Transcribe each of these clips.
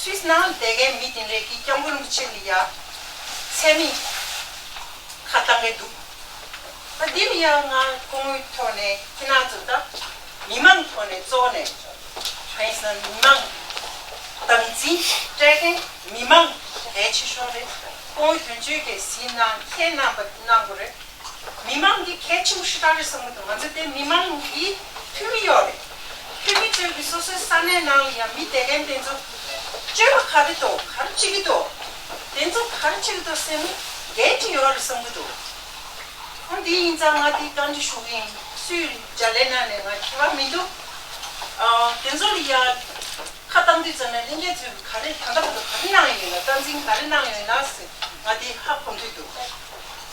སུས་ན་དེ་གའི་མི་དེ་འདྲས་ཀྱིས་སྐྱབས་མགོན་རིན་པོ་ཆེ་ནི་ཡ། ཚད་མེད། ཁ་བཏང་གི་འདུག་ད་འདི་ལ་ཡ་ང་སྐུ་ངོའི་ཐོག་ནས་ཁྱེད་རྣམས་ཚོ་ད་མི་མང་ཐོག་ནས་གཙོ་བོ་ནས་ཧ་ཡིན་སང་མི་མང་དམ་འཛིན་སྤྲད་མཁན་མི་མང་གལ་ཆེ་ཤོས་རེད་སྐུ་ངོ་དོན་གཅོད་ཀྱི་གཟིགས་སྣང་ཁྱེད་རྣམས་པ་གནང་དགོས་རེད། མི་མང་གི་གལ་ཆེའུ་ཧྲི་ཏྲ་རེད་བསམ་གི་འདུག་ང་ཚོ་དེ་མི་མང་གི་འཐུས་མི་ཡོག་རེད། འཐུས་མི་ཚོས་གི་སོ་སོའི་ས་གནས་ནང་ལ་ཡང་མི་དད་ལན་དེ་ཚོ་སྤྱོད་པ་ག་རེད་དོ་ག་རེ་བྱེད་གི་འདུག་དེ་ཚོ་ག་རེ་བྱེད་གི་འདུག་སེམས་འགལ་ཅིག་ཡོག་རེད་བསམ་གི་འདུག་ཨོ་འདི་ཡིན་ཙང་ང་འདི་བཀའ་འདྲི་ཞུ་གི་ཡིན་སུས་འཇའ་ལས་ནང་ནས་ང་ཁྱེད་པ་མི་འདུག་དེ་ཚོ་ལ་ཡང་ཁ་བཏང་དུས་ཙམ་ན་གླིང་རྒྱལ་ཚོས་གི་ག་རེ་ད་ལྟ་བར་དུ་ག་རེ་གནང་ཡོད་ན་བསྟན་འཛིན་ག་རེ་གནང་ཡོད་ན་ཟེར་ང་འདི་ཧ་གོ་འདོད་འདུག།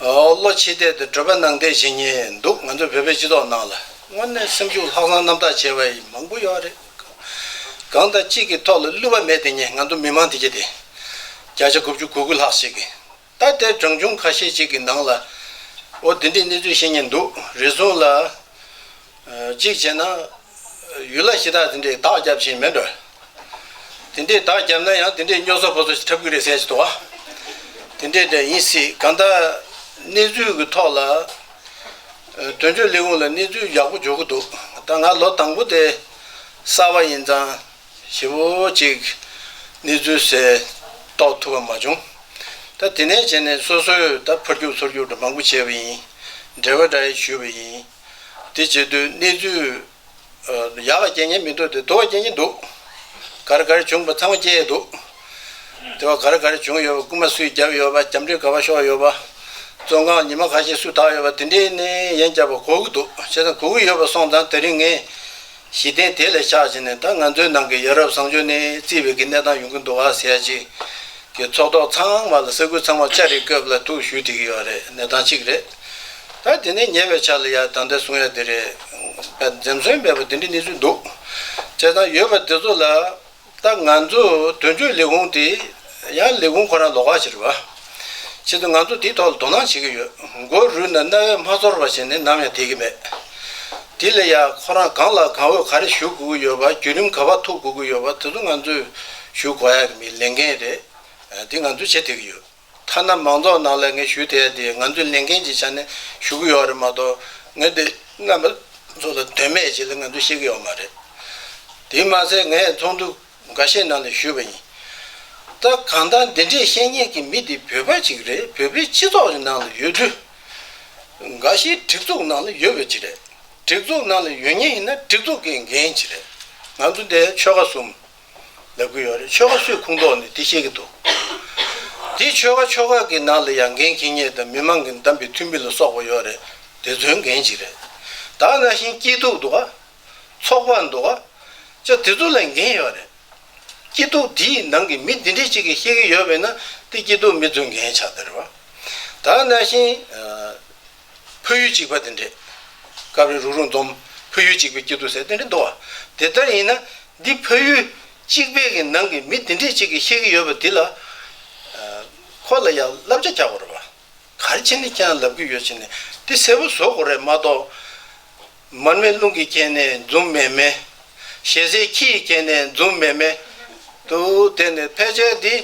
བློ་ཕྱི་བལྟས་དུ་བགྲོད་པ་ནང་བལྟས་བྱེད་ངེས་འདུག་ང་ཚོ་བོད་པའི་སྤྱི་ཚོགས་ནང་ལ་དངོས་གནས་སེམས་ཤུགས་ལྷག་བསམ་རྣམ་དག་བྱེད་པ་ཡི་མང་པོ་ཡོད་རེད། གང་ལྟར་གཅིག་གི་ཐོག་ལ་བསླུ་བ་མེད་དེ་ངས་ང་ཚོ་མི་མང་དེ་གྱེས་ཏེ་བརྒྱ་ཆ་དགུ་བཅུ་དགུ་དགུ་ལྷག་ཞིག་གིས་ད་ལྟའི་བགྲང་བྱུང་ཁ་ཤས་ཅིག་གི་ནང་ལ་འོ་དེ་འདྲའི་གནས་ཚུལ་ཤེས་ངེས་འདུག་རེ་ཟུང་ལ། གཅིག་བྱས་ན། ཡུལ་ལ་གཞི་བདག་དེ་འདྲས་བདག་བརྒྱབ་བཞིན་མེད་འགྲོ། དེ་འདྲས་བདག་བརྒྱབ་ན་ཡང་དེ་འདྲས་སྨྱོ་ཟོ་ཕོ་ཟོ་ཞིག་འཁྲབ་གི་རེད་ཟེར་བཞིན་འདུག་བ། དེ་འདྲས་འདྲ་ཡིན་སྲིད་གང་ལྟར། གནས་ཚུལ་གྱི་ཐོག་ལ། དོན་གཅོད་ལས་ཁུངས་ལ་གནས་ཚུལ་ཡག་པོ་འཇོག་གི་འདུག་ད་ང་ལོ་དང་པོ་དེ། གསར་བ་ཡིན་ཙང། ཞེ་བོ་ཅིག། གནས་ཚུལ་ཟེར། རྟོགས་ཐུབ་པ་མ་བྱུང། ད་དེ་ནས་བྱས་ནས་སོ་སོས་ད་ཕར་རྒྱུག་ཚུར་རྒྱུག་འདྲ་མང་པོ་བྱས་པ་ཡིན། འབྲེལ་བ་འདྲ་ཞུས་པ་ཡིན། དེ་བྱེད་དུས་གནས་ཚུལ། ཡག་ལ་རྐྱེན་ངན་མི་འདུག་སྟེ་དུ་བ་རྐྱེན་གྱིན་འདུག། ག་རེ་ག་རེ་བྱུང་བ་ཚང་མ་སྐྱེས་ཡས་འདུག། དེ་བ་ག་རེ་ག་རེ་བྱུང་ཡོད་པ་རྐུན་མ་སུས་བརྒྱབ་ཡོད་པ་རྒྱབ་འདྲེ་ག་བ་ཤོར་ཡོད་པ། བཙོན་ཁང་ཉི་མ་ག་ཤེད་སུས་དག་ཡོད་པ་དེ་འདྲའི་ནི་ཡན་བསྐྱར་བ་གོ་གི་འདུག་བྱས་ཙང་གོ་གི་ཡོད་པ་སོང་ཙང་དེ་རིང་ངས། གཞི་རྟེན་དེ་ལས་ཕྱག་བྱས་ནས་ད་ང་ཚོའི་ནང་གི་ཡ་རབས་བཟང་སྤྱོད་ནི་རྩིས་བེད་ཀྱི་གནས་སྟངས་ཡོང་གི་འདུག་བ་ཟེར་ཅིག་གི་ཚོགས་ཐོག་ཚང་མ་ལ་ས་ཁུལ་ཚང་མ་ལྕགས་རི་བཀབ་ལ་ཐུག་ཞུ་དེ་གི་ཡོད་རེད་གནས་སྟངས་གཅིག་རེད། ད་དེ་ནས་ཉེ་བའི་ཆ་ལ་ཡ་ད་ལྟ་གསུང་ཡ་དེ་རེད། འཛེམ་ཟོན་མེད་པ་དེ་འདྲ་གནས་ཚུལ་འདུག་བྱས་ཙང་ཡོད་པ་དེ་ཚོ་ལ་ད་ང་ཚོ་དོན་གཅོད་ལས་ཁུངས་དེ་ཡང་ལས་ཁུངས་ཁོ་རང་ལོག་ཁ་བྱེད་རེད་པ། ཆེད་དུ་ང་ཚོ་དེའི་ཐོག་ལ་དོ་སྣང་བྱེད་ཀྱི་ཡོད། མགོ་རུལ་ན་རྣ་བས་མ་ཚོར་བ་བྱས་ནས་ནམ་ཡང་བསྡད་ཀྱི་མེད། དེ་ལས་ཡང་ཁོ་རང་གང་ལ་གང་འོས་ག་རེ་ཞུ་དགོས་ཀྱི་ཡོད་པ་བརྒྱུད་རིམ་ག་བར་ཐུག་དགོས་ཀྱི་ཡོད་པ་དེ་ཚོ་ང་ཚོས་ཞུ་དགོས་ཡག་གི་མི་ལས་འགན་རེད་དེ་ང་ཚོས་བྱེད་བསྡད་ཀྱི་ཡོད། ཐ་ན་མང་ཚོགས་ནང་ལ་ངས་ཞུ་དེ་ཡ་དེ་ང་ཚོས་ལས་འགན་གྱི་ཆ་ནས་ཞུ་གི་ཡོད་རེད་མ་གཏོགས་ངས་དེ་རྣམ་པ་ཚོ་ལ་དོན་མེད་ཅིག་ལ་ང་ཚོས་བཤད་ཀྱི་ཡོད་མ་རེད། དེ་མ་ཟད་ངས་ཚོགས་འདུ་འགའ་ཤས་ནང་ལ་ཞུས་པ་ཡིན། ད་གང་ལྟར་འདི་འདྲའི་བཤད་ཉན་གྱི་མི་དེ་བོད་པ་ཅིག་རེད་བོད་པའི་སྤྱི་ཚོགས་ཀྱི་ནང་ལ་ཡོད་དུས། འགའ་ཤས་སྒྲིག་འཛུགས་ནང་ལ་ཡོད་པ་ཅིག་རེད། སྒྲིག་འཛུགས་ནང་ལ་ཡོད་ཉེན་ཡིན་ན་སྒྲིག་འཛུགས་ཀྱི་འགན་ཅིག་རེད། ང་ཚོ་འདི་ཆོལ་ཁ་གསུམ། ལབ་ཀྱི་ཡོད་རེད་ཆོལ་ཁ་སུས་ཁུངས་གཏོགས་ནས་དེ་བཤད་ཀྱི་འདུག་དེ་ཆོལ་ཁ་ཆོལ་ཁ་གི་ནང་ལ་ཡང་འགན་འཁྱེར་ཉེས་དང་མི་མང་གི་འདམས་པའི་འཐུས་མི་ལ་སོགས་པ་ཡོད་རེད་དེ་ཚོའི་འགན་ཅི་རེད་དག་ན་ཤིང་སྐྱིད་སྡུག་འདུག་ག་ཚོགས་པ་འདུག་ག་ཅག་དེ་ཚོ་ལ་འགན་ཡོད་རེད་སྐྱིད་སྡུག་དེའི་ནང་གི་མི་འདི་འདྲས་གཅིག་གིས་ཤེས་ཀྱི་ཡོད་པས་ན་དེ་སྐྱིད་སྡུག་མི་ཚོའི་འགན་ཆགས་དེ་རེད་བ་དག་ན་ཤིང། ཕོ་ཡུལ་གཅིག་པ་དེ་འདྲས། སྐབས་རེ་རུག་རུག་འདོམས། ཕོ་ཡུལ་གཅིག་པའི་སྐྱིད་སྡུག་ཟེར་དེ་འདྲས་འདུག་བ། དེ་ལྟར་ཡིན་ན། འདི་ཕོ་ཡུལ་གཅིག་པའི་གི་ནང་གི་མི་དེ་འདྲས་གཅིག་གིས་ཤེས་ཀྱི་ཡོད་པ་འདི་ལ། ཁོ་ལ་ཡང་བསླབ་བྱ་རྒྱག་དགོས་རེད་བ། གར་ཕྱིན་ནས་ཁྱེད་རང་ལབ་ཀྱི་ཡོད་ཕྱིན་ནས་དེ་གསལ་པོ་བཟོ་དགོས་རེད་མ་གཏོགས། མར་མེ་རླུང་གིས་བསྐྱེད་ནས་འཛུམ་མེ་མེ། ཞལ་ཟས་ཁྱི་ཡིས་བསྐྱེད་ནས་འཛུམ་མེ་མེ། དུ། དེ་ནི་ཕལ་ཆེར་འདི་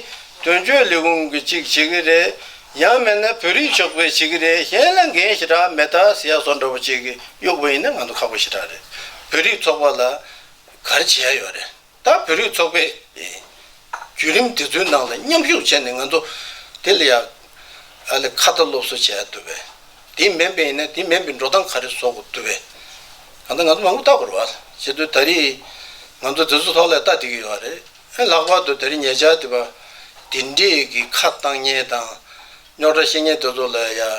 དོན་གཅོད་ལས་ཁུངས་ཀྱི་གཅིག་བྱེད་ཀྱི་རེད། ཡང་མེད་ན་བོད་རིགས་ཕྱོགས་པས་བྱེད་ཀྱི་རེད་གཞན་ལ་འགན་ཞེ་དྲག་མེད་ད་ཟེར་ཡག་སོ་འདྲ་པོ་བྱེད་ཀྱི་གཡོག་པོ་ཡིན་ན་ང་ཚོ་ཁག་པོ་ཞེ་དྲག་རེད་བོད་རིགས་ཚོགས་པ་ལ་གར་བྱེད་ཡག་ཡོད་རེད། ད་བོད་རིགས་ཚོགས་པས་བརྒྱུད་རིམ་འདི་ཚོའི་ནང་ལ་མཉམ་ཞུགས་བྱས་ནས་ང་ཚོ་དེ་ལ་ཡང་ཨ་ལེ་ཁ་བརྡ་སློབ་གསོ་བྱས་ཡག་འདུག་བས། དེ་མིན་པའི་ཡིན་ན་དེ་མིན་པའི་འགྲོ་སྟངས་ག་རེ་བཟོ་དགོས་འདུག་བས། གང་ལྟར་ང་ཚོ་མང་པོ་ལྟ་དགོས་རེད་བ། བྱེད་དུས་ད་རེས་ང་ཚོ་དེ་ཚོ་ཐོག་ལ་ལྟ་བསྡད་ཀྱི་ཡོད་བ་རེད། ཨེ་ལྷག་པར་དུ་ད་རེས་ཉེ་ཆར་དེ་བ་དེ་འདྲས་ཀྱི་ཁ་བཏང་བརྙན་དང་རྙོག་དྲ་བཤད་བརྙན་དེ་ཚོ་ལ་ཡང་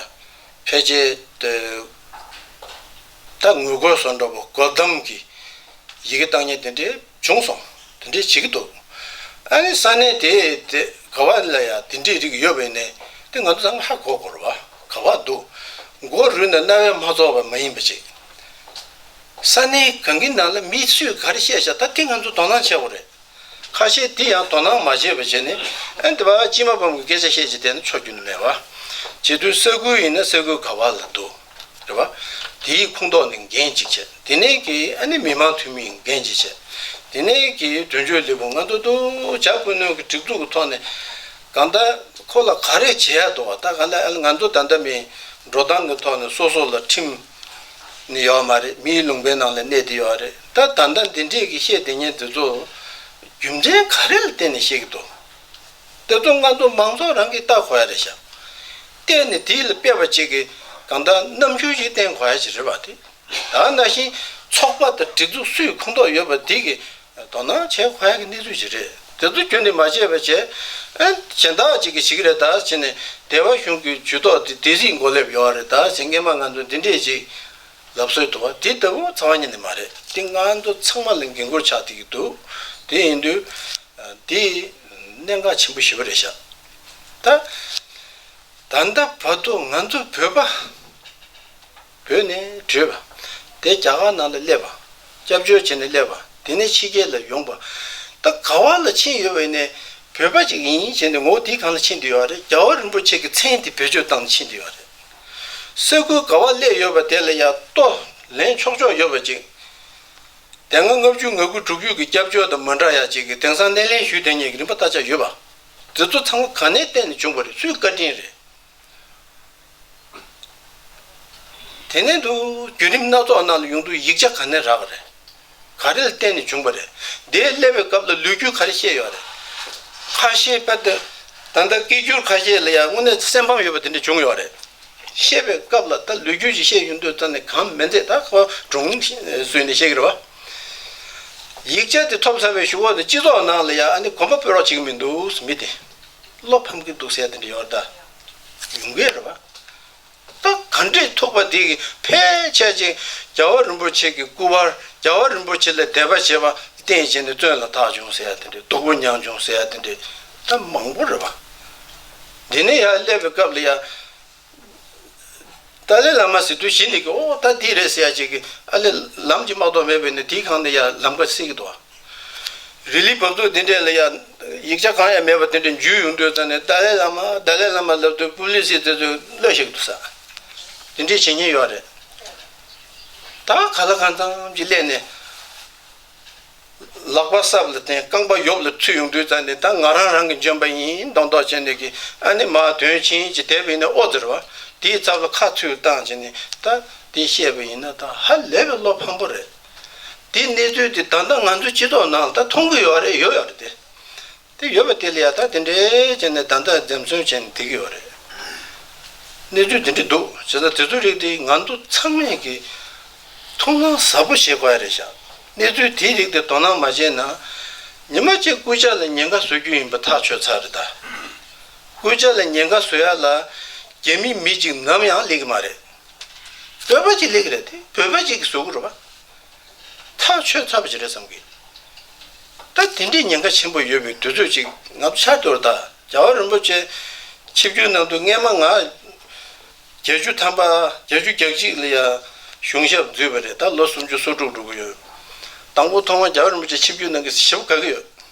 ཕལ་ཆེར་དུ། ད་ངུ་དགོད་ཟོ་འདྲ་པོ་དགོད་གཏམ་གྱི་ཡི་གེ་བཏང་ཉེན་དེ་འདྲས་བྱུང་སོང་དེ་འདྲས་བྱེད་ཀྱི་འདུག་ཨ་ནི་ས་གནས་དེ་དེ་ག་བ་ལ་ཡང་དེ་འདྲས་རིགས་ཡོད་པའི་ནས་དེ་ང་ཚོ་ད་སྔ་ཧ་གོ་གོར་བ་ག་བ་འདུག་མགོ་རུལ་ན་རྣ་བས་མ་ཚོར་བ་མ་ཡིན་པ་ཅིག་ས་གནས་གང་གི་ནང་ལ་མི་སུས་ག་རེ་བཤད་བཤད་ད་དེ་ང་ཚོ་དོ་སྣང་བྱེད་དགོས་རེད། ཁ་ཤས་དེ་ཡང་དོ་སྣང་མ་བྱས་པའི་རྗེས་ནས་ཨན་འདི་བ་ཅི་མ་ཕམ་གི་སྐད་ཆ་བཤད་ཅི་བདེ་ན་ཆོག་རྒྱུ་ནི་མེད། བྱེས་དུས་ས་ཁུལ་ཡིན་ན་ས་ཁུལ་ག་བ་ལ་འདུག་རེད་བ། དེ་ཡི་ཁུངས་གཏོགས་ནི་འགན་གཅིག་བྱས་དེ་ནས་ཀྱི་ཨ་ནི་མི་མང་འཐུས་མི་ཡིན་འགན་གཅིག་བྱས་དེ་ནས་ཀྱི་དོན་གཅོད་ལེགས་པོ་ང་འདུག་འདུག་བྱ་ཀུན་ནོན་གི་སྒྲིག་འཛུགས་གི་ཐོག་ནས་གང་ལྟར་ཁོ་ལ་ག་རེ་བྱེད་ཡག་འདུག་བ་ད་ག་ལ་ཨལ་ང་ཚོ་ད་ལྟ་མི་འགྲོ་སྟངས་གི་ཐོག་ནས་སོ་སོ་ལ་ཁྲིམས། ནི་ཡོད་མ་རེད་མིའི་ལུང་པའི་ནང་ལ་གནས་དེ་ཡོད་རེད་ད་ད་ལྟ་འདི་འདྲས་ཀྱི་བཤད་དེ་ཉན་དེ་ཚོ་རྒྱུ་མཚན་ག་རེ་ལ་བརྟེན་ནས་བཤད་ཀྱི་འདུག་དེ་ཚོ་ང་ཚོ་མང་ཚོགས་རང་གིས་བལྟ་གོ་ཡ་རེད་ཞག་བལྟས་ནས་དེ་ལ་དཔེ་བ་ཅིག་གིས་གང་དག་རྣམ་འགྱུར་ཞིག་བསྟན་གོ་ཡ་ཅིག་རེད་བ་དེ་ད་ནང་བཞིན་ཚོགས་པ་དང་སྒྲིག་འཛུགས་སུས་ཁུངས་གཏོགས་ཡོད་པ་དེ་གིས་དོ་སྣང་བྱེད་དཀའ་བའི་གནས་ཚུལ་ཞིག་རེད། དེ་ཚོ་རྒྱུན་དུ་མ་བྱས་པའི་ཆེད། གཞན་དག་ཅིག་གིས་ཞིག་རེད་ད་བྱས་ནས་སྡེ་བ་གཞུང་གི་ཇུས་ཏོག་དེ་དེ་རིགས་མགོ་སླེབས་ཡོང་བ་རེད་ད་བྱས་སྔས་མ་ང་ཚོ་འདི་འདྲས་ཅིག་ལབ་སྲོལ་འདུག་དེ་ལྟ་བུ་ཚང་བ་ཉིད་ནས་མ་རེད་དེ་ང་ཚོ་ཚང་མ་ལ་འགན་འཁུར་ཆགས་ཏེ་གི་འདུག་དེ་ཡིན་དུས། དེ་གནད་འགག་ཆེན་པོ་ཞིག་བུ་རེད་ཤག། ད་ལྟ་བར་དུ་ང་ཚོ་བོད་པ། བོས་ནས་བྲོས་པ། དེ་རྒྱ་གར་ནང་ལ་སླེབས་པ། སྐྱབས་བཅོལ་བྱས་ནས་སླེབས་པ་དེ་ནས་ཕྱི་རྒྱལ་ལ་ཡོང་པ། ད་ག་བ་ལ་ཕྱིན་ཡོད་བས་ནས་བོད་པ་ཅིག་ཡིན་ཡིན་བྱས་ནས་ངོ་བོ་དེའི་གང་ལ་ཕྱིན་དུ་ཡོད་རེད་རྒྱལ་བ་རིན་པོ་ཆེ་གི་མཚན་དེ་བེད་སྤྱོད་བཏང་ནས་ཕྱིན་དུ་ཡོད་རེད། ས་ཁུལ་ག་བ་སླེབས་ཡོད་པ་དེ་ལ་ཡང་ལྟོ་ལེན་ཆོག་ཆོག་ཡོད་པ་ཅིག། དེ་སྔ་ལྔ་བཅུ་ང་དགུ་དྲུག་བཅུ་གི་སྐྱབས་བཅོལ་དང་མ་འདྲ་ཡ་གཅིག་གི་དེང་སང་སྣེ་ལེན་ཞུས་དེ་གཉིས་ཀྱི་རིན་པ་བལྟ་བྱ་ཡོད་པ། འདི་ཚོ་ཚང་མ་ག་ནས་བལྟས་ནས་བྱུང་པ་རེད་སུས་བཀའ་དྲིན་རེད། དེ་ནས་དུ་བརྒྱུད་རིམ་སྣ་ཚོགས་རྣམས་ལ་ཡོངས་འདུ་ཡིག་ཆ་ག་ནས་རག་ག་རེད། ག་རེ་ལ་བརྟེན་ནས་བྱུང་བ་རེད། དེའི་སླེབས་པའི་སྐབས་ལ་ལུས་རྒྱུད་ག་རེ་བཤད་ཡོད་རེད། ཁ་ཤེས་པ་དེ་ད་ལྟ་སྐད་སྒྱུར་ཁ་ཤས་ལ་ཡང་དངོས་གནས་སེམས་ཕམ་ཡོད་པ་དེ་འདྲ་བྱུང་ཡོད་རེད། བཤད་པའི་སྐབས་ལ་ད་ལུས་རྒྱུད་ཅིག་བཤད་ཡོད་འདོད་ཙམ་ནས་གང་མི་འཛད་ད་ཁ་བ་གྲུང་བཟོས་ནས་བཤད་གི་རེད་བ། ཡིག་ཆ་དེ་ཐོབ་ཚར་བའི་ཞུ་བ་ནི་སྤྱི་ཚོགས་ནང་ལ་ཡང་ཨ་ནི་གོམ་པ་སྤོས་རོགས་བྱེད་ཀྱི་མི་འདུག་མི་དེ། བློ་ཕམ་གི་འདུག་ཟེར་ཏེ་འབྲེལ་བ་བརྡ་ཡོང་གི་རེད་བ། ད་ག་འདྲས་ཐུག་པ་དེ་གི་ཕལ་ཆེར་ཅིག་རྒྱལ་བ་རིན་པོ་ཆེ་གི་སྐུ་པར་རྒྱལ་བ་རིན་པོ་ཆེ་ལ་དད་པ་བྱེད་པ་བསྟན་བྱས་ནས་བཙོན་ལ་ཐག་བྱུང་ཟེར་ཏེ་འདྲེ་སྡུག་པོ་མྱངས་བྱུང་ཟེར་ཏེ་འདྲེ་ད་མང་པོ་རེད་བ། འདི་ནས་ཡར་སླེབས་པའི་སྐབས་ལ་ཡང། ཏཱ་ལའི་བླ་མ་ཟེར་དུས་གཞི་ནས་ཀྱི་ཨོ་ད་དེ་རེད་ཟེར་ཡ་ཅིག་གི་ཨ་ལས་ལམ་གྱི་མ་གཏོགས་མེད་པས་ནི་དེའི་གང་ནས་ཡ་ལམ་ཀ་སེ་གི་འདུག་ཨ། རི་ལི་བབ་འདུག་དེ་འདྲས་ལ་ཡ་ཡིག་ཆ་གང་ཡང་མེད་པ་དེ་འདྲས་འཇུས་ཡོང་དུས་ཙང་ནས་ཏཱ་ལའི་བླ་མ་ཏཱ་ལའི་བླ་མ་ལབ་དུས་པུ་ལི་སི་དེ་ཚོས་གློད་ཤེས་གི་འདུག་ས་དེ་འདྲས་བྱེད་ཉེན་ཡོད་རེད། ད་ག་ལ་གང་ཙམ་གྱི་སླད་ནས། ལག་པ་སྲབ་ལ་བརྟེན་རྐང་པ་གཡོབ་ལ་ཐུད་ཡོང་དུས་ད་ནི་ད་ང་རང་རང་གིས་འཇོན་པ་ཡིན་མདོག་མདོག་བྱས་ནས་གི་ཨ་ནི་མ་དོན་ཕྱིན་ཅི་དད་པའི་ནི་ཨོ་ཟེར་བ། དེའི་རྩ་བ་ཁ་ཐུར་བཏང་བྱས་ནས་ད་དེ་བཤད་པ་ཡིན་ན་ད་ཧ་ལས་པའི་བློ་ཕམ་པོ་རེད། དེའི་གནས་ཚུལ་དེ་ད་ལྟ་ང་ཚོའི་སྤྱི་ཚོགས་ནང་ད་མཐོང་གི་ཡོད་རེད་ཡོད་ཡོད་རེད་དེ། དེ་ཡོད་པ་དེ་ལ་ཡང་དག་དེ་འདྲའི་ཅན་ནས་བདག་འདྲ་འཛེམ་བརྩོན་བྱས་ནས་དེ་གི་བ་རེད། གནས་ཚུལ་དེ་འདྲི་འདུག་བྱས་ཙང་དེ་ཚོའི་རིགས་དེ་ང་ཚོ་ཚང་མས་གི་ཐུགས་སྣང་ཟབ་པོ་བྱེད་དགོས་རེད་བཞག་གནས་ཚུལ་དེའི་རིགས་དེ་དོ་སྣང་མ་བྱས་ན་ཉི་མ་གཅིག་སྐུ་ཕྱྭ་ལ་ཉེན་ཁ་བཟོ་རྒྱུ་ཡིན་པ་ཐག་ཆོད་ཚར་རེད་ད། སྐུ་ཕྱྭ་ལ་ཉེན་ཁ་བཟོ་ཡ་ལ་རྒྱ་མི་མི་གཅིག་ནམ་ཡང་ལེགས་གི་མ་རེད། བོད་པ་གཅིག་ལེགས་རེད་དེ་བོད་པ་གཅིག་གི་བཟོ་གི་རུ་བ། ཐག་ཆོད་ཚར་བ་ཞིག་རེད་བསམ་གི་འདུག་ད་དེ་འདྲའི་ཉེན་ཁ་ཆེན་པོ་ཡོད་པའི་དུས་ཚོད་ཅིག་ང་ཚོ་ཕྱག་རྡོར་དང་རྒྱལ་བ་རིན་པོ་ཆེ་ཆིབས་བསྒྱུར་གནང་འདུག་སྔས་མ་ང་བརྒྱད་ཅུ་ཐམ་པ་བརྒྱད་ཅུ་གྱ་གཅིག་ལ་ཡང་གཞུང་ཞབས་འཛུལ་བ་རེད་ད་ལོ་སུམ་ཅུ་སོ་དྲུག་འགྲོ་གི་ཡོད་དང་པོ་ཐོག་མར་རྒྱལ་བ་རིན་པོ་ཆེ་ཆིབས་བསྒྱུར་གནང་གི་ཞབས་ག་གི་ཡོད།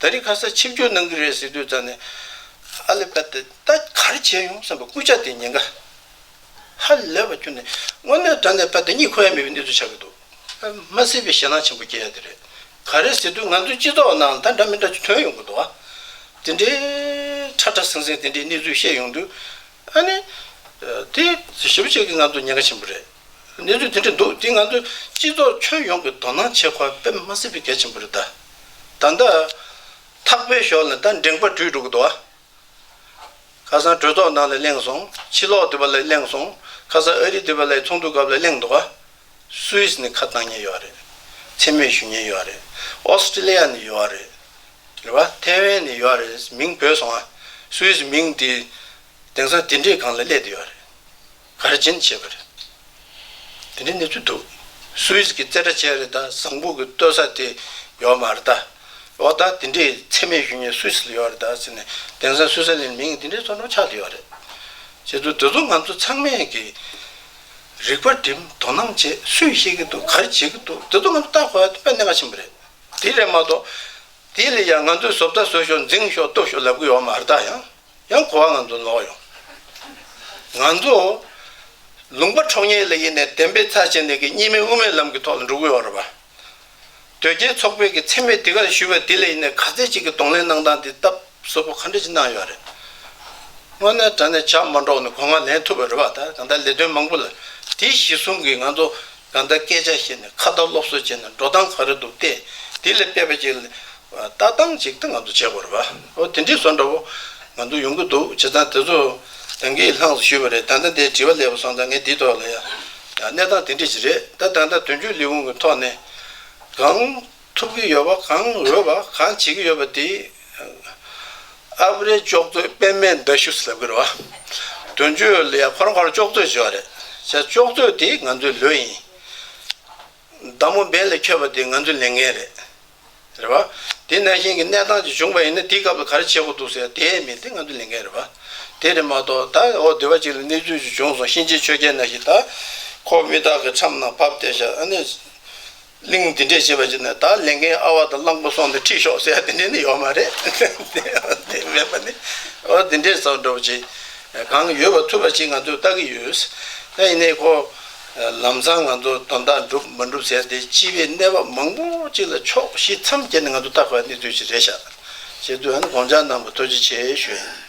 ད་རེས་ཁ་སར་ཆིབས་བསྒྱུར་གནང་གི་རེད་ཟེར་དུས་རྩ་ནས་ཨ་ལེ་པད་ཏི་ད་གར་བྱས་ཡོང་བསམ་པའི་སྐུལ་ལྕག་དེ་ཉེན་ཁ་ཧ་ལས་པ་གྱུར་ནས་དངོས་གནས་རྡ་ནས་པད་ཏི་གཉིད་ཁུག་ཡ་མེད་པའི་གནས་ཚུལ་ཆགས་ཀྱི་འདུག་མ་སྲིད་པའི་ཞེད་སྣང་ཆེན་པོ་སྐྱེ་ཡ་དེ་རེད། ག་རེ་ཟེར་དུས་ང་ཚོའི་སྤྱི་ཚོགས་ནང་ད་འདྲ་མི་འདྲ་ཅིག་ཐོན་ཡོང་གི་འདུག་ཨ། དེ་འདྲའི་ཁྲ་ཁྲ་ཟིང་ཟིང་དེ་འདྲའི་གནས་ཚུལ་བཤད་ཡོང་དུས་ཨ་ནི། དེ་ཞིབ་བྱེད་ཀྱི་ང་ཚོར་ཉེན་ཁ་ཆེན་པོ་རེད། གནས་ཚུལ་དེ་འདྲ་འདུག་འདི་ང་ཚོའི་སྤྱི་ཚོགས་ཁྱོན་ཡོངས་ཀྱི་དོ་སྣང་བྱེད་ཁོ་པེད་མ་སི་པི་གལ་ཆེན་པོ་རེད་ད། ད་ལྟ་ཐག་པའི་ཞོར་ལ་ད་འགྲེངས་པ་དྲུད་འགྲོ་གི་འདུག་ཨ། ཁ་སང་གྲོས་ཚོགས་ནང་ལས་གླེང་སོང་ཕྱི་ལོགས་འདི་པ་ལས་གླེང་སོང་ཁ་སང་ཨ་རི་འདི་པ་ལས་ཚོགས་འདུ་སྐབས་ལས་གླེང་འདུག་ཨ། སུའི་སི་ནས་ཁ་བཏང་ཉེན་ཡོད་རེད། འཚེ་མེད་ཞུ་ཉེན་ཡོད་རེད། ཨོ་སི་ཀྲི་ལི་ཡ་ནས་ཡོད་རེད། རེད་བ། ཐེ་ཝན་ནས་ཡོད་རེད་མིང་བོས་སོང་ཨ། སུའི་སི་མིང་དེ། དེང་སང་དེ་འདྲས་གང་ལ་སླེད་དེ་ཡོད་རེད། གར་སྦྱིན་བྱས་པ་རེད། དེ་འདྲའི་གནས་ཚུལ་འདུག་སུའེ་ཟི་ཀི་རྩེ་གྲ་ཅན་རེད་ད་བཟང་བུ་གི་ལྟོས་ས་དེ་ཡོད་མ་རེད་ད། འོ་ད་དེ་འདྲའི་འཚེ་མེད་གཞོན་སྐྱེས་སུའི་ས་ལ་ཡོད་རེད་ད་ཟེར་ནས་དེང་སང་སུའེ་ཟི་ལན་མིང་གི་དེ་འདྲའི་ཚོར་འདྲོག་ཆགས་ཀྱི་ཡོད་རེད། ཁྱེད་ཚོ་དེ་ཚོ་ང་ཚོ་ཚང་མས་ཀྱི་རིག་པ་འགྲིམ་དོ་སྣང་བྱེད་སུས་ཤེས་ཀྱི་འདུག་གར་བྱེད་ཀྱི་འདུག་དེ་ཚོ་ང་ཚོ་བལྟ་དགོས་དཔེ་གནད་འགག་ཆེན་པོ་རེད། དེ་རེད་མ་གཏོགས། དེ་ལས་ཡང་ང་ཚོའི་བཟོ་ལྟ་བཟོ་ཞོག་འཛིང་ཞོག་ལྟོས་ཞོག་ལབ་ཀྱི་ཡོད་མ་རེད་ད་ཡང། ཡང་གོ་བ་ང་ཚོ་ནོར་ཡོང། ང་ཚོ་ལུང་པ་འཕྲོག་ཉལ་ལ་ཡེ་ནས་བདེན་པའི་ཚ་བྱེད་ནས་ཀྱི་གཉིས་མེད་དབུ་མའི་ལམ་གྱི་ཐོག་ལ་འགྲོ་གི་ཡོད་རེད་པ། དོལ་རྒྱལ་ཚོགས་པས་ཀྱི་འཚེ་མེད་དེ་གར་ཞུས་པ་དེ་ལས་ཡེ་ནས་ག་ཚད་ཅིག་གི་གདོང་ལེན་གནང་སྟངས་དེ་སྟབས་བཟོ་པོ་ག་འདྲ་ཅིག་གནང་ཡོད་རེད། དངོས་གནས་དྲ་ནས་ཇག་མ་འདྲོགས་ནས་གོ་ང་ལེན་ཐུབ་པ་རེད་པ་ད་གང་ལྟར་ལས་དོན་མང་པོ་ལ་དེའི་གཞི་བཟུང་གི་ང་ཚོ་ད་ལྟ་སྐད་ཆ་བཤད་ནས་ཁ་བརྡ་སློབ་གསོ་བྱས་ནས་འགྲོ་སྟངས་ག་རེ་འདུག་སྟེ། དེ་ལས་དཔེ་ཅིག་ལ། ལྟ་སྟངས་ཅིག་སྟེ་ང་ཚོ་བྱེད་དགོས་རེད་བ། ཨོ་དེ་འདྲའི་བཟོ་འདྲ་བོ། ང་ཚོ་ཡོང་གི་འདུག་བྱེད་སྟངས་དེ་ཚོ། དེང་གི་ལྷང་སུ་ཞུས་པ་རེད་ད་ལྟ་འདའི་དྲི་བ་ལས་པ་སོང་ཙང་ངས་འདིའི་ཐོག་ལ། གནས་སྟངས་དེ་འདྲ་ཞིག་རེད་ད། ད་ལྟ་དོན་གཅོད་ལས་ཁུངས་ཀྱི་ཐོག་ནས། གང། ཐུབ་ཀྱི་ཡོད་པ་གང་འོས་པ་གང་བྱེད་ཀྱི་ཡོད་པ་དེ། ཨ་བྷི་རེ་ཅོག་ཙེ་པད་མའི་མདའ་གཞུ་ཟེར་གི་རེད་བ། དོན་བརྗོད་ལ་ཡང་ཁོ་རང་ཁོ་རང་ཅོག་ཙེ་ཟེར་བ་རེད། བྱས་ཅོག་ཙེ་དེ་ང་ཚོའི་ལོས་ཡིན། མདའ་མོ་འབེན་ལས་འཁྱོལ་བ་དེ་ང་ཚོའི་ལས་ངན་རེད། རེད་བ། དེ་ནང་བཞིན་གྱི་གནས་སྟངས་ཅིག་བྱུང་བ་ཡིན་ན་དེའི་སྐབས་ལ་ག་རེ་བྱེད་དགོས་འདུག་ཟེར་དེ་མིན་དེ་ང་ཚོའི་ལས་འགན་རེད་བ། དེ་རེད་མ་གཏོགས་ད་འོ་བདེ་བ་ཅིག་ལ་གནས་ཚུལ་ཅིག་བྱུང་སོང་གཤིན་རྗེའི་ཆོས་རྒྱལ་ན་ཞིག་ད། ཁོ་མི་དག་གི་ཁྲམ་ནང་བབས་བསྡད་བཞག་ཨ་ནི། གླིང་འདི་འདྲས་བྱེད་པ་ཅིག་ན་ད་ལེན་མཁན་ཨ་བ་དང་གླང་པོ་སོང་སྟེ་ཁྲིད་ཤོག་ཟེར་ཡ་དེ་འདྲས་ནི་ཡོད་མ་རེད། དེ་མེད་པ་ནི་ཨོ་དེ་འདྲས་ཙམ་འགྲོ་བ་ཅིག་གང་ཡོད་པ་ཐུབ་པ་ཅིག་ང་ཚོས་བལྟ་གི་ཡོད། ད་ཡིན་ནའི་ཁོ་ལམ་སང་ང་ཚོ་དོན་དག་འགྲུབ་མ་འགྲུབ་ཟེར་ཏེ་སྤྱི་བའི་གནས་བབ་མང་པོ་ཅིག་ལ་ཕྱོགས་བཞི་མཚམས་བརྒྱད་ནས་ང་ཚོ་བལྟ་དགོས་པ་ནི་དུས་ཀྱི་རེད་ཤག་ཅེས་དུས་ཨན་དགོངས་འཇགས་གནང་བར་ཐུགས་རྗེ་ཆེ་ཞུ་ཡིན།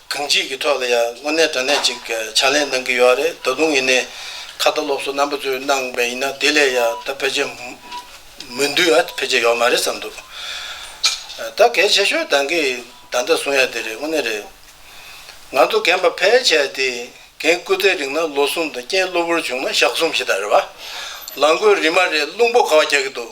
གང་ཅིའི་གི་ཐོག་ལ་ཡང་དངོས་གནས་དྲང་གནས་ཅིག་ཕྱག་ལེན་གནང་གི་ཡོད་རེད་ད་དུང་ཡིན་ནའི་ཁ་བརྡ་སློབ་གསོ་རྣམ་པ་ཚོས་གནང་བས་ཡིན་ན་དེ་ལས་ཡང་ད་ཕལ་ཆེར་མུན་དུས་ཨ་ཕལ་ཆེར་ཡོད་མ་རེད་བསམ་འདུག་ད་གལ་ཆེ་ཤོས་དང་གི་ད་ལྟ་བཟུང་ཡ་དེ་རེད་དངོས་གནས་རེད་ང་ཚོ་རྒན་པ་ཕལ་ཆེ་དེ་གན་སྐུ་ཚེ་རིང་ན་ལོ་གསུམ་དང་རྐྱེན་གློ་བུར་བྱུང་ན་ཞག་གསུམ་ཞེས་ད་རེད་བ་ལང་དགོས་རི་མ་རེད་རླུང་བུ་ག་བ་རྒྱག་གི་འདུག།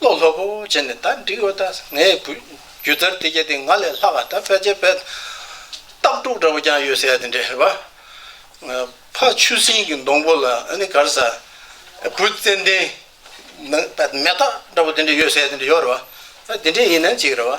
བློ་ལྷོད་པོ་བྱས་ནས་ད་འགྲིག་ཡོད་ད་ངས་རྒྱུ་དར་དེ་བྱས་ཏེ་ང་ལས་ལྷག་ག་ད་ཕལ་ཆེར་ཕལ། སྟག་འབྲུག་འདྲ་བོ་ཀྱང་ཡོད་ཟེར་ཡ་དེ་འདྲས་རེད་པ། ཕ་ཆུ་སྲིན་གྱི་སྡོང་པོ་ལ་ནི་གར་ཟ། བུ་ཙན་དན། མེ་སྟག་འདྲ་བོ་དེ་འདྲས་ཡོད་ཟེར་ཡ་དེ་འདྲས་ཡོད་རེད་པ། ད་དེ་འདྲས་ཡིན་ན་ཅིག་རེད་པ།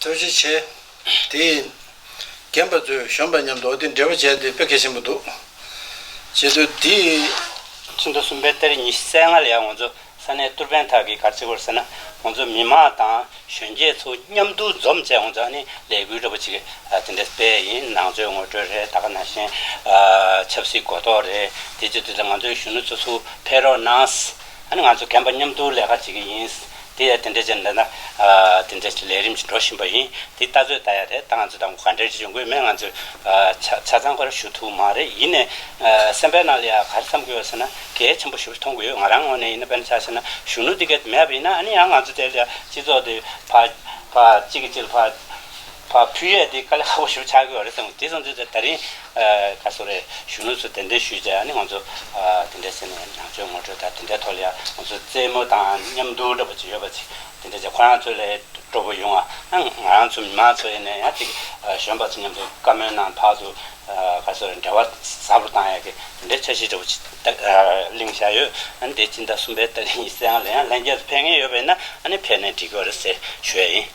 ཐུགས་རྗེ་ཆེ། དེ་ཡིན། རྒན་པ་ཚོས་གཞོན་པ་མཉམ་དུ་འོ་དེ་འབྲི་བ་བྱས་ཏེ་དཔེ་གལ་ཆེན་པོ་འདུག་བྱེད་དུ་དེ། ཚོན་མདོ་གསུམ་པའི་གཏེར་ཉི་ཤུ་རྩ་ལྔ་ལ་ཡང་ང་ཚོ་ས་གནས་གཏུར་དཔོན་དག་གིས་གར་ཚིག་སྐོར་ཟེར་ན་ང་ཚོ་མི་མང་དང་གཞོན་སྐྱེས་ཚོ་མཉམ་དུ་འཛོམས་བྱས་ང་ཚོ་ཨ་ནི་ལས་འགུལ་ར་བ་ཅིག་དེ་འདྲ་སྤེལ་ཡིན་ནང་ཆོས་ངོ་སྤྲོད་རེད་ད་ག་ནང་བཞིན་ཆབ་སྲིད་གོ་རྟོགས་རེད་དེ་བྱེད་དུ་ང་ཚོའི་གཞོན་ནུ་ཚོ་ཚུར་ཕེབས་རོགས་གནང། ཨ་ནི་ང་ཚོ་རྒན་པ་མཉམ་དུ་ལས་ཀ་བྱེད་ཀྱི་ཡིན། དེ་ཡང་དེ་འདྲའི་རྗེས་འདི་ན། དེ་འདྲའི་ལས་རིམ་ཞིག་འགྲོ་བཞིན་པ་ཡིན། དེ་ལྟ་ཚོད་ལྟ་ཡ་རེད་ད་ང་ཚོ་ད་ག་འདྲའི་ཆུ་འགོའི་མེད་ང་ཚོས། ཆ་ཚང་ག་རེ་ཞུ་ཐུབ་མ་རེད་ཡིན་ནས། སེམས་པའི་ནང་ལ་ཡང་ག་རེ་བསམ་གྱི་ཡོད་ཟེར་ན་གལ་ཆེན་པོ་ཞིག་མཐོང་གི་ཡོད་ང་རང་ངོས་ནས་ཡིན་ན་དཔེར་ན་ཆ་ཤས་ན་གཞོན་ནུ་འདི་གའི་མེད་པ་ཡིན་ན་ཨ་ནི་ཡང་ང་ཚོ་དེ་ལ་སྤྱི་ཚོགས་དེ། བ་གཅིག་གིས་གཅིག་ལ་བ། བ་ཕུལ་ཡས་དེ་དཀའ་ལས་ཁག་པོ་ཞུ་ཆགས་ཀྱི་རེད་དམ་དེ་ཙམ་ཚོད་ད་རིང་ག་སོ་རེད་གཞོན་ནུ་ཚོ་དེ་འདྲས་ཞུས་བྱས་ཡ་ནི་ང་ཚོ་དེ་འདྲས་ཟེར་ནས་ནང་ཆོས་ངོ་སྤྲོད་ད་དེ་འདྲས་ཐོག་ལ་ཡ་ང་ཚོ་རྩེད་མོ་དང་མཉམ་འདུག་འདྲ་པོ་ཅིག་ཡོད་པ་ཅིག་དེ་འདྲས་བྱས་ཁོ་རང་ཚོ་ལས་སྤྲོ་པོ་ཡོང་ང་ང་རང་ཚོ་མི་མང་ཚོ་ཡེ་ནས་ཡ་ཅིག་གཞོན་པ་ཚོ་མཉམ་དུ་བཀའ་མོལ་གནང་ཕག་ཏུ་ག་སོ་རེད་འབྲེལ་བ་ཟབ་རུ་བཏང་ཡ་གི་དེ་འདྲས་འཆར་གཞི་འདྲ་པོ་ཅིག་གླེང་བཞག་ཡོད་ཨ་ནི་དེ་སྤྱི་ཟླ་གསུམ་པའི་ཏག་ལན་ཡིན་གསལ་ཡང་ལན་རྒྱས་སུ་ཕེབས་ངེས་ཡོད་པ་ཡིན་ན་ཨ་ནི་ཕེབས་ནས་འགྲིག་གི་རེད་ཟེར་ཞུ་ཡ་ཡིན།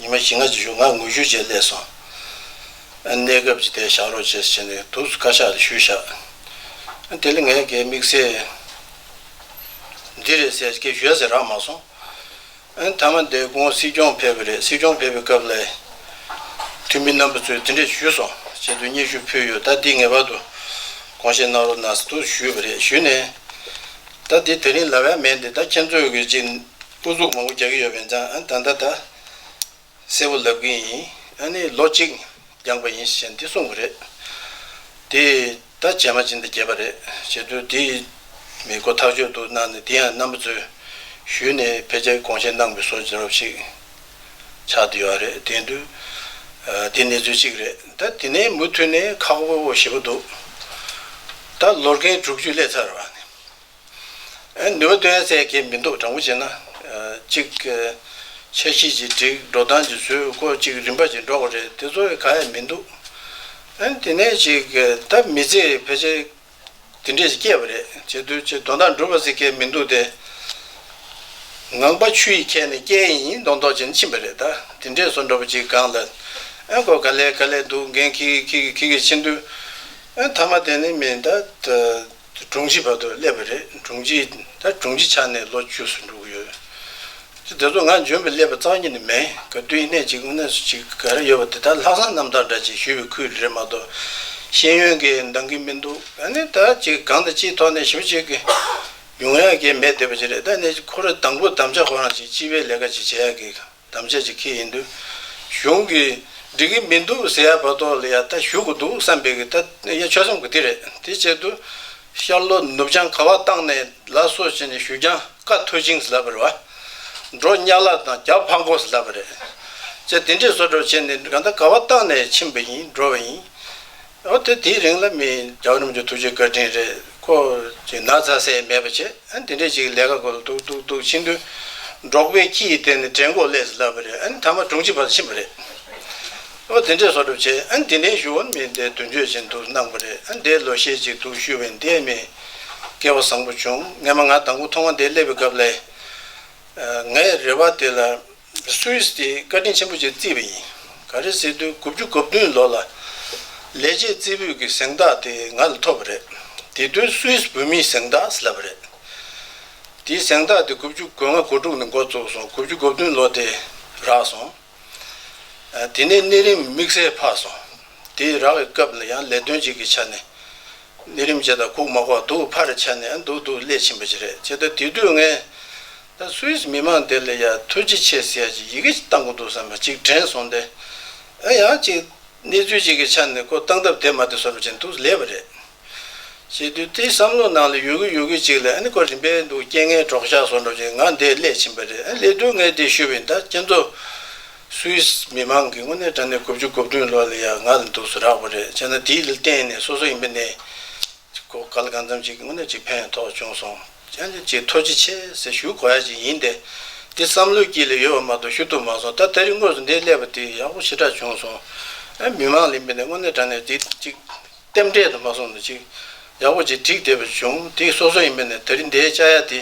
ཉི་མ་བཞི་ལྔ་བཅུ་བཞུགས་ང་ངུ་བཞུད་བྱས་སླད་སོང། གནས་སྐབས་ཀྱི་དེ་བཞག་རོགས་བྱས་ཟེར་ནས་དུག་བཀའ་ཤག་ལ་ཞུས་བཞག། དེ་ལ་ངས་ཀྱེ་དམིགས་བསལ་འདི་རེད་ཟེར་ཀྱེ་ཞུས་ཟེར་རག་མ་སོང། མཐའ་མ་འདས་གོང་སྲིད་སྐྱོང་ཕེབས་པ་རེད་སྲིད་སྐྱོང་ཕེབས་པའི་སྐབས་ལ་འཐུས་མི་རྣམ་པ་ཚོས་དེ་འདྲས་ཞུས་སོང་བྱས་དུས་སྙན་ཞུ་ཕུལ་ཡོད་ད་འདི་ངེས་པར་དུ་གོང་བཞིན་གནང་རོགས་གནང་ཟེར་དུག་ཞུས་པ་རེད་ཞུས་ནས། ད་འདི་ད་རིང་ལ་བས་མེད་འདི་ད་ཁྱེད་ཚོས་ཀྱིས་ཅིག་སྤུ་གཟུགས་མང་པོ་རྒྱག་གི་ཡོད་པས་ད་ལྟ་ད་གསལ་བོ་ལབ་གི་ཡིན། ཨ་ནི་ལོ་གཅིག་འགྱངས་པ་ཡིན་ཞེས་འདི་གསུངས་པ་རེད། དེས་ད་བྱས་མ་བྱས་འདི་བརྒྱད་པ་རེད་བྱས་དུས་དེ་མི་གོ་ཐག་ཆོད་འདུག་གནང་ནས་དེ་ཡང་རྣམ་པ་ཚོས་ཞུས་ནས་ཕལ་ཆེར་དགོངས་བཞེས་གནང་པའི་སོ་ཇོ་ཞིག་ཆགས་འདི་ཡོད་རེད་དེ་འདུག་དེ་གནས་ཚུལ་གཅིག་རེད་ད་དེ་ནས་མུ་མཐུད་ནས་ཁག་པོ་བཞི་པོ་འདུག་ད་ལོར་རྒན་དྲུག་ཅུ་སླེབས་ཚར་བ། ནུས་པ་ཐོན་ཟེར་མཁན་མི་འདུག་དྲང་པོ་བྱས་ན། གཅིག། ཆ་ཤས་ཀྱི་སྒྲིག་འགྲོ་སྟངས་ཀྱི་ཟོལ་སྐོར་གཅིག་རིམ་པ་ཅིག་འགྲོ་གི་རེད་དེ་ཚོ་ག་ཡ་མི་འདུག། དེ་ནས་ཅིག་ད་མི་ཚེ་ཕལ་ཆེར་དེ་འདྲས་སྐྱེས་པ་རེད་བྱས་དུས་ཆེ་དོ་དང་འགྲུབ་པ་ཟེར་མཁན་མི་འདུག་སྟེ། ངང་པ་ཆུ་ཡིས་ཁྱེར་ནས་སྐྱེ་ཡི་ཡིན་མདོག་མདོག་བྱས་ནས་ཕྱིན་པ་རེད་ད་དེ་འདྲས་སོ་འགྲོ་བ་ཅིག་སྒང་ལ། ཁོ་ག་ལས་ག་ལས་འདུག་འགན་ཁི་གི་ཁི་གི་ཁི་གི་ཕྱིན་དུས། མཐའ་མ་དེ་ནི་མིན་ད། དེ་དྲུང་ཆེའི་བར་དུ་སླེབས་པ་རེད་དྲུང་ཆེ་ད་དྲུང་ཆེ་ཆགས་ནས་ལོ་བཅུ་སུ་འགྲོ་གི་ཡོད། ཅི་དེ་ཚོ་ང་འཇོན་པའི་སླེབས་པ་གཙང་གྱི་ནི་མེད་ག་བསྟུན་གནས་གཅིག་དངོས་གནས་སུ་ཅིག་ག་རེ་ཡོད་པ་དེ་དག་ལྷག་བསམ་རྣམ་དག་འདྲ་ཅིག་ཞུས་པའི་ཁུལ་རེད་མ་གཏོགས་ཤེས་ཡོན་གྱི་འདང་གི་མི་འདུག་ད་ནི་ད་ཅིག་གང་དང་ཅིའི་ཐོག་ནས་ཞུ་ཅིག་གི་ཡོང་ཡག་གི་མེད་བསྡད་པ་ཅིག་རེད་ད་ནི་ཁོ་རེ་དང་པོ་དམ་བཅའ་ཁོ་རང་ཅིག་སྤྱི་པའི་ལས་ཀ་ཅིག་བྱེད་ཡག་གི། དམ་བཅས་ཀྱི་ཁེ་ཡིན་དུས། གཞུང་གིས་འགྲིག་གི་མི་འདུག་ཟེར་ཡ་བར་དོ་ལ་ཡ་ད་ཞུ་གི་འདུག་བསམ་པའི་གི་ད་ཡ་ཆོལ་གསུམ་གི་དེ་རེད་དེ་བཅད་དུ། ཤར་ལྷོ་ནུབ་བྱང་ག་བ་བཏང་ནས་ལ་སོ་བྱས་ནས་ཞུ་རྐྱང་ཀ་ཐོད་ཅིང་ཟེར་བར་བ། འགྲོ་གཉའ་ལ་དང་རྒྱ་ཕག་མགོ་ཟེར་བར་རེད། བཅད་དེ་འདྲས་བཟོ་སྒྲོག་བྱས་ནས་ག་ད་ག་བ་བཏང་ནས་ཕྱིན་པ་ཡིན་འགྲོ་བ་ཡིན། ཨོ་དེ་དེའི་རིང་ལ་མི། རྒྱ་བོད་གནམ་ཆོས་ཐུགས་རྗེ་བཀའ་དྲིན་རེད་ཁོ། ཅིག་ན་ཚ་ཟས་མེད་པ་བྱེད་ཨ་འདི་འདྲས་ཅིག་ལས་ཀ་གོ་ལ་འདུག་འདུག་འདུག་ཕྱིན་དུས། འབྲོག་པའི་ཁྱི་ཡི་སྟེང་ནས་དྲེད་མགོ་ཀླད་ཟིག་བསླབས་པ་རེད་ཨ་ནི་ཐ་མ་སྒྲུང་ཅིག་བར་དུ་ཕྱིན་པ་རེད། ཨོ་འདི་འདྲས་བཟོ་གྲབས་བྱེད་ཨ་འདི་འདྲའི་ཞུ་བ་མི་འདས་དུས་འགྱོད་བྱེད་འདུག་སྣང་པ་རེད་ཨ་འདས་ལོ་ཤས་ཅིག་འདུག་ཞུ་བའི་འདས་མི། སྐལ་བ་བཟང་པོ་བྱུང་ངས་མ་ང་དང་པོ་མཐོང་བ་འདས་སླེབས་པའི་སྐབས་ལས། ངས་རེ་བ་དེ་ལ། སུད་སི་དེ་བཀའ་དྲིན་ཆེན་པོ་བཅས་བརྩིས་པ་ཡིན། ག་རེ་ཟེར་དུས་དགུ་བཅུ་གོ་བདུན་ལོ་ལ། ལས་བྱེད་རྩེ་ཕུད་ཀྱི་གཟེངས་རྟགས་དེ་ང་ལ་ཐོབ་པ་རེད། དེ་དུས་སུད་སི་བོད་མིའི་གཟེངས་རྟགས་ཟེར་ལབ་པ་རེད། དེའི་གཟེངས་རྟགས་དེ་དགུ་བཅུ་གོ་ལྔ་གོ་དྲུག་ནས་འགོ་བཙུགས་སོང་དགུ་བཅུ་གོ་བདུན་ལོ་དེ་རག་སོང། དེ་ནས་གནས་རིམ་དམིགས་བསལ་འཕགས་སོང། དེའི་རག་བའི་སྐབས་ལ་ཡང་ལས་དོན་ཅིག་གི་ཆ་ནས། གནས་རིམ་བཅས་དང་ཁུག་མ་ཁོག་འདུག་ཕར་ཆ་ནས་འདུག་འདུག་སླད་ཕྱིན་པ་ཅིག་རེད་ཅེས་ད་དེ་དུས་ངས Swiss མི་མང་དེ་ལ་ཡ་ཐུ་ཅི་ཆེ་ཟེར་ཡ་ཅིག་ཡི་གེ་བཏང་གོ་འདུག་བསམ་པ་ཅིག་དྲན་སོང་སྟེ། ཨ་ཡ་ཅིག་གནས་ཚུལ་ཅིག་གི་ཆ་ནས་ཁོ་བཏང་ཐབས་དེ་མ་དེ་བཟོ་མི་བྱེད་འདུག་ལེ་བ་རེད། ཞེས་དུས་དེའི་བསམ་བློ་ནང་ལ་ཡོད་གི་ཡོད་གི་ཅིག་ལ་ཨ་ནི་ཁོ་རིམ་པས་འདུག་རྐྱེན་ངན་གྲོགས་ཤ་ཟོ་འགྲོ་ཅིག་ང་འདས་སླད་ཕྱིན་པ་རེད་ཨ་ལེ་སྡུག་བསྔལ་འདི་ཤུལ་བའི་ད་ཁྱེད་ཚོ Swiss མི་མང་གི་དངོས་གནས་དྲ་གནས་དགུ་བཅུ་དགུ་བདུན་ལོག་ལ་ཡ་ང་ལ་འདུག་སུ་རག་པ་རེད་བྱས་ན་དེའི་ལ་བརྟེན་ནས་སོ་སོ་ཡིན་པ་ནས་ཅིག་གོ་ག་ལ་གང་འཚམ་ཅིག་དངོས་གནས་ཅིག་ཕན་ཐོགས་བྱུང་སོང། ཅན་དེ་ཅིག་ཐོ་ཅི་ཆེ་ཟེར་ཞུ་གོ་ཡ་ཅིག་ཡིན་ཏེ། འདི་བསམ་བློའི་དཀྱིལ་ལས་ཡོལ་བ་མ་གཏོགས་ཞུ་ཐུབ་མ་སོང་ད་ད་རིང་དངོས་སུ་འདི་སླེབས་པ་དེ་ཡག་པོ་ཞེ་དྲག་བྱུང་སོང་ཨེ་མི་མང་ལས་མི་ནས་དངོས་གནས་དྲ་གནས་འདི་ཅིག་ལྟེམ་འབྲེལ་དུ་མ་སོང་ན་ཅིག་ཡག་པོ་ཅིག་བསྒྲིགས་བསྡད་པ་བྱུང་དེ་སོ་སོ་ཡིན་མི་ནས་ད་རིང་འདའི་བཅའ་ཡ་དེ་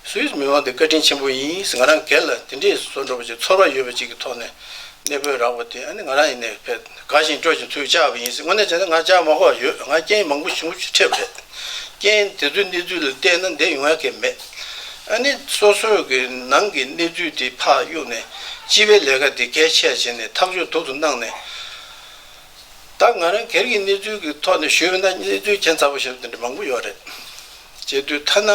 སུའི་མི་མང་དེ་བཀའ་དྲིན་ཆེན་པོ་ཡིན་ང་རང་སྒེར་ལ་དེ་འདྲས་བཟོ་འགྲོ་བ་ཅིག་ཚོར་བ་ཡོད་པ་ཅིག་གི་ཐོག་ནས་གནས་སྤོས་རག་པ་དེ་ཨ་ནི་ང་རང་ཡིན་ནས་ཕེད། དགའ་ཞིང་སྤྲོ་ཞིང་ཚུར་བཅར་བ་ཡིན་སྲིད་དངོས་གནས་བྱས་ན་ང་ཅག་མ་ཧོར་ཡོད་ང་རྐྱེན་མང་པོ་བྱུང་ཕྱིར་ཁྲེལ་བ་རེད། རྐྱེན་དེ་ཚོའི་གནས་ཚུལ་ལ་བལྟས་ན་འདེམས་ཡོང་ཡ་གལ་མེད། ཨ་ནི་སོ་སོའི་གི་ནང་གི་གནས་ཚུལ་དེ་ཕ་གཡུག་ནས་སྤྱི་པའི་ལས་ཀ་དེ་གལ་ཆེ་བྱས་ནས་ཐག་གཅོད་དུག་ཏུ་གནང་ནས། ད་ང་རང་གེར་གི་གནས་ཚུལ་གི་ཐོག་ནས་ཞུས་པ་ན་གནས་ཚུལ་གྱེན་ཚ་བོ་ཞེས་པ་དེ་འདྲ་མང་པོ་ཡོད་རེད། བྱས་དུས་ཐ་ན་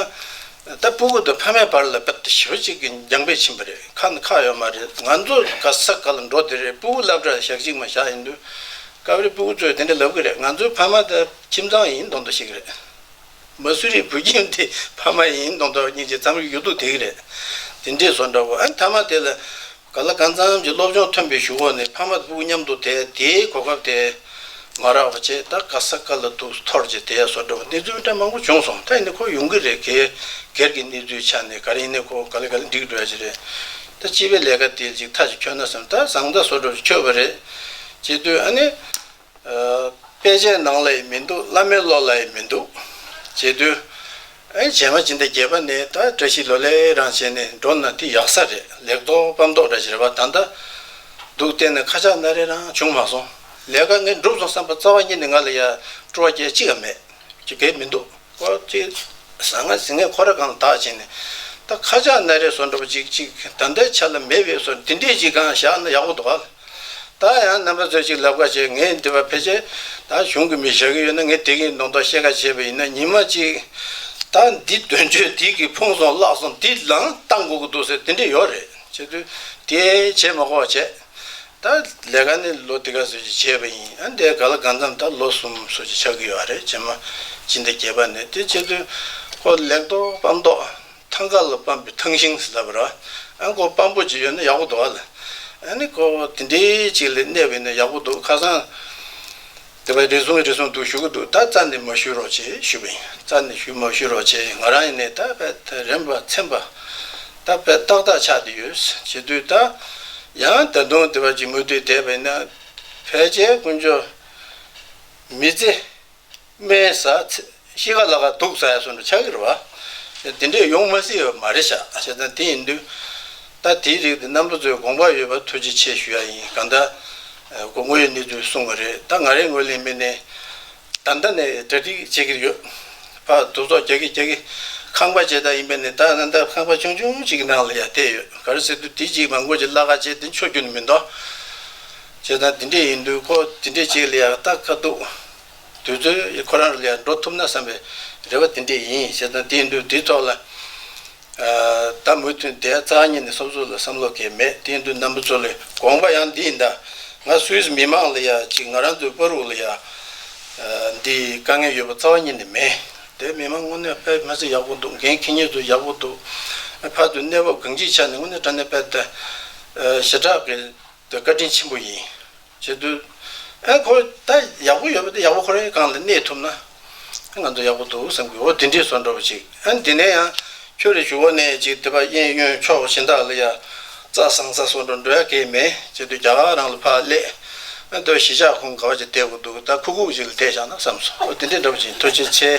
ད་སྤུ་གུ་དང་ཕ་མའི་བར་ལ་རྦད་དེ་ཞོལ་གཅིག་གི་འགྱངས་པས་ཕྱིན་པ་རེད་ཁ་ནི་ཁག་ཡོད་མ་རེད་ང་ཚོ་ག་ས་ག་ལ་འགྲོ་དེ་རེད་སྤུ་གུ་བསླབ་གྲྭར་ཞག་གཅིག་མ་བཞག་ཡིན་དུས་སྐབས་རེ་སྤུ་གུ་ཚོས་དེ་འདྲ་ལབ་གི་རེད་ང་ཚོའི་ཕ་མ་ད་ཁྱིམ་ཚང་ཡིན་མདོག་མདོག་ཞིག་རེད་མ་སུ་རིའི་བུ་ཁྱིམ་དེ་ཕ་མ་ཡིན་མདོག་མདོག་གཉིས་ཀྱི་འཚམས་རིག་ཡོད་དུ་དེ་གི་རེད་དེ་འདྲས་བཟོ་འདྲ་བོ་ཨ་མཐའ་མ་དེ་ལ་ག་ལ་གང་ཙམ་གྱི་སློབ་སྦྱོང་ཐོན་པའི་གཞུག་འོག་ནས་ཕ་མ་བུ་མཉམ་དུ་དེད་དེའི་གོ་སྐབས་དེ་མ་རག་པ་བྱས་ད་ག་ས་ག་ལ་འདུག་ཐོར་གྱིས་དེད་སོགས་འདྲ་བ་གནས་ཚུལ་འདྲ་མང་པོ་བྱུང་སོང་ད་ཡིན་ན་ཁོ་ཡོང་གི་རེད་གེ་སྒེར་གྱི་གནས་ཚུལ་ཆ་ནས་ག་རེ་ཡིན་ན་ཁོ་ག་ལ་ག་ལ་འགྲིག་འགྲོ་ཡ་ཅི་རེད་ད་སྤྱི་པའི་ལས་ཀ་དེ་ཅིག་ཐག་ཅིག་ཁྱོད་ན་བསམ་ད་བཟང་ད་བཟོ་འགྲོ་ཅིག་ཁྱོད་བ་རེད་ཅེས་ལྟོས་ཨ་ནི། དཔེ་ཆའི་ནང་ལ་ཡི་མི་འདུག་བླ་མའི་བློ་ལ་ཡི་མི་འདུག། རྗེ་བདུན། ཨེ་བྱས་མ་བྱིན་ད་རྒྱལ་པ་ནི་ད་བཀྲ་ཤིས་ལོ་ལེགས་རང་བྱས་ནས་འགྲོ་ན་འདི་ཡག་ས་རེད་ལེགས་མདོག་སྤམ་མདོག་འདྲ་བྱེད་རེ་བ་ད་འདའ་འདུག་བལྟས་ན་ཁ་ཆག་ན་རེ་རང་བྱུང་མ་སོང་ལས་ཀ་ངས་འགྲུབ་སོང་བསམ་པ་རྩ་བ་ཉིད་ནས་ང་ལ་ཡ་སྤྲོ་བ་རྒྱལ་གཅིག་ག་མེད་ཀྱི་གེ་མི་འདུག་ཀོ་ཅི། ཟ་ང་ཟི་ངས་ཁོ་ར་གང་ལ་དག་བྱས་ནས་ད་ཁ་ཆག་ན་རེ་བཟོ་འགྲོ་བ་ཅིག་ཅིག་ད་འདའི་ཆ་ལ་མེད་བས་སོ་འདི་འདྲས་ཅིག་གང་བཞག་ན་ཡག་པོ་འདུག་ག། ད་ཡང་རྣམ་པ་ཚོས་ཅིག་ལབ་ཁ་བྱེད་ངས་འདི་བ་ཕལ་ཆེར་ད་གཞུང་གི་མི་བཞག་གི་ཡོད་ན་ངས་དེ་གི་མདོང་དག་བཤད་ཁ་བྱེད་པ་ཡིན་ན་ཉིན་མ་གཅིག་ད་འདི་དོན་གཅོད་དེ་གི་ཕུང་སོང་བརླག་སོང་འདི་ལའང་བལྟ་འགོ་གི་འདུག་ཟེར་དེ་འདྲས་ཡོད་རེད་བྱེད་དུས་དེ་བྱེད་མ་ཁོག་བྱས་ད་ལས་ཀ་ནི་ལོ་འདི་ག་ཚོས་ཀྱི་བྱས་པ་ཡིན་ཨ་འདས་ག་ལ་ག་མཚམས་ད་ལོ་གསུམ་ཚོས་ཀྱི་ཆག་གི་ཡོད་རེད་བྱེད་མ་ཅི་འདི་བརྒྱད་པ་ནས་དེ་བྱེད་དུས་ཁོ་ལེགས་མདོག་སྤམ་མདོག། ཐང་ག་ལ་སྤམ་པའི་ཐང་ཤིང་ཟེར་བ་ར་ཨན་གོ་སྤམ་པོ་ཅིག་ཡོད་ན་ཡག་པོ་འདུག་ཨ་ལ་ཨན་ནི་ཁོ་དེ་འདྲའི་ཅིག་ལས་གནས་བས་ན་ཡག་པོ་འདུག་ཁ་སང་དེ་བས་རེ་ཟུང་རེ་ཟུང་འདུག་ཞུ་གི་འདུག་ད་རྩ་ནས་མ་ཞུས་རོགས་བྱེད་ཞུས་པ་ཡིན་རྩ་ནས་ཞུས་མ་ཞུས་རོགས་བྱེད་ང་རང་ཡིན་ནས་ད་བས་ད་རན་པ་ཚན་པ་ད་བས་ཏག་ཏག་ཆགས་དེ་ཡོད་བྱེད་དུས་ད་ཡང་ད་དུང་དེ་བ་ཅིག་མུ་མཐུད་བསྡད་བས་ན་བས་ཅད་དཀོན་མཆོག་མི་བརྩི། སྨན་ཟ། གཤིས་ཀ་ལ་ཁ་དུག་ཟ་ཡ་སོགས་འདྲ་ཆགས་ཀྱི་རེད་བ། དེ་འདྲས་ཡོང་མ་སྲིད་པ་མ་རེད་བྱ་བྱེད་སྟངས་དེ་ཡིན་དུས། ད་དེའི་རིགས་དེ་རྣམ་པ་ཚོས་དགོངས་པ་ཡོད་པ་ཐུགས་རྗེ་ཆེ་ཞུ་ཡ་ཡིན་གང་ལྟར། སྒོ་དངོས་ཡོད་གནས་ཚུལ་གསུངས་པ་རེད་ད་ང་རེ་ངོས་ལེན་མི་ནས་ད་ལྟ་ནས་གྲ་སྒྲིག་བྱེད་ཀྱི་ཡོད། ཕར་དུག་ཚོགས་རྒྱག་གི་རྒྱག་གི་ཁང་པ་བྱེ་ད་ཡིན་པས་ནས་ད་གནའ་ད་ཁང་པ་ཆུང་ཆུང་གཅིག་གི་ནང་ལ་ཡ་བསྡད་ཡོད་ག་རེ་ཟེར་དུས་དེ་གཅིག་མ་མགོ་གཅིག་བརླ་ཁ་བྱས་དེ་མཆོད་རྒྱུ་ནི་མི་འདོ། བྱས་ན་འདི་འདྲས་ཡིན་དུས་ཁོ་དེ་འདྲས་བྱེད་ལ་ཡང་ལྟ་དཀའ་འདུག་དུས་ཚོད་ཁོ་རང་ལ་ཡང་འགྲོ་ཐུབ་ན་བསམ་པའི་རེ་བ་དེ་འདྲས་ཡིན་བྱས་ན་དེ་ཡིན་དུས་དེའི་ཐོག་ལ་ད་མུ་མཐུད་འདས་རྩ་གཉིས་ནས་སོབ་སོབ་ལ་བསམ་བློ་གས་མེད་དེ་ཡིན་དུས་ནམ་བུ་ཚོ་ལས་དགོངས་པ་ཡང་འདི་ཡིན་ད་ང་སུའིས་མི་མང་ལ་ཡང་ཅིག་ང་རང་ཚོའི་དཔའ་རུག་ལ་ཡང་འདི་དཀའ་ངལ་ཡོད་པ་རྩ་བ་གཉིས་ནས་མེད། འདས་མི་མང་དངོས་གནས་དཔལ་དམན་ཚོ་ཡག་པོ་འདུག་འགན་ཁྱི་གཉིས་ཚོ་ཡག་པོ་འདུག་ཕར་དུ་གནས་བབ་གང་ཅིའི་ཆ་ནས་དངོས་གནས་དྲ་གནས་དཔལ་ལྡན་ཞེ་དྲག་གིས་འདི་བཀའ་དྲིན་ཆེན་པོ་ཡིན། ཅེས་བསྟོད། ཨ་ཁོ་ད་ཡག་པོ་ཡོད་པ་འདི་ཡག་པོ་ཁོ་རེ་གང་ལ་གནས་ཐུབ་ན། ང་ཚོ་ཡག་པོ་འདུག་བསམ་གི་འོ་དེ་འདྲས་སོ་འགྲོ་བ་ཅིག་ཨ་འདི་ནས་ཡང་ཁྱོད་རེ་ཞུ་བ་ནས་ཅིག་དེ་པ་གཡས་གཡོན་ཕྱོགས་གཞན་དག་ལ་ཡ་རྩ་བཟང་ས་སོ་འགྲོ་འགྲོ་ཡ་གས་མེད་ཅེས་བསྟོད་རྒྱ་གར་རང་ལ་ཕར་སླེད། ཨ་འདོད་གཞིས་ཆགས་ཁོང་ག་བ་ཅིག་བསྡད་དགོས་འདུག་ད་ཁུག་ཁུག་ཅིག་ལ་བསྡད་བཞག་ན་བསམ་སོང་འོ་དེ་འདྲས་འདྲ་བ་ཅིག་ཐུགས་རྗེ་ཆེ།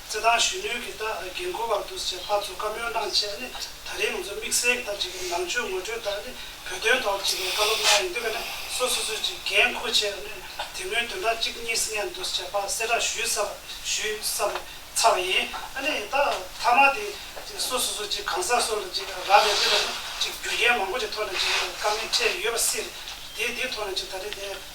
རྩེད་ཐང་གཞོན་ནུའི་གི་རྒན་འཁོར་བར་འདུ་ཞེས་ཕར་ཚུར་བཀའ་མོལ་གནང་རྗེས་ནི་ད་རིང་ང་ཚོ་དམིགས་བསལ་གྱི་ཐབས་ཅིག་གིས་ནང་ཆོས་ངོ་སྤྲོད་ལྟར་ནི་བོད་དོན་ཐོག་ཅིག་གི་བཀའ་སློབ་གནང་ཡིན་དུས་ཀ་ནས་སོ་སོ་སོས་ཅིག་རྒན་འཁོ་ཆེ་ནི་དེ་སྔོན་དོན་དག་ཅིག་གཉིས་སྙན་འདུ་ཞེས་ཕར་གསལ་བསྒྲགས་ཞུས་ས་ཞུས་ས་ཚར་བ་ཡིན་ཨ་ནི་ད་མཐའ་མ་དེ་ཅིག་སོ་སོ་སོས་ཅིག་གང་ཟག་སོ་ལ་ཅིག་རག་ལས་དེ་ལ་ནི་ཅིག་རྒྱུ་རྐྱེན་མང་པོ་ཅིག་ཐོག་ནས་ཅིག་དཀའ་ངལ་འཕྲད་ཡོད་པ་སྲིད་དེ་དེ་ཐོག་ནས་ཅིག་ད་རིང་ནས།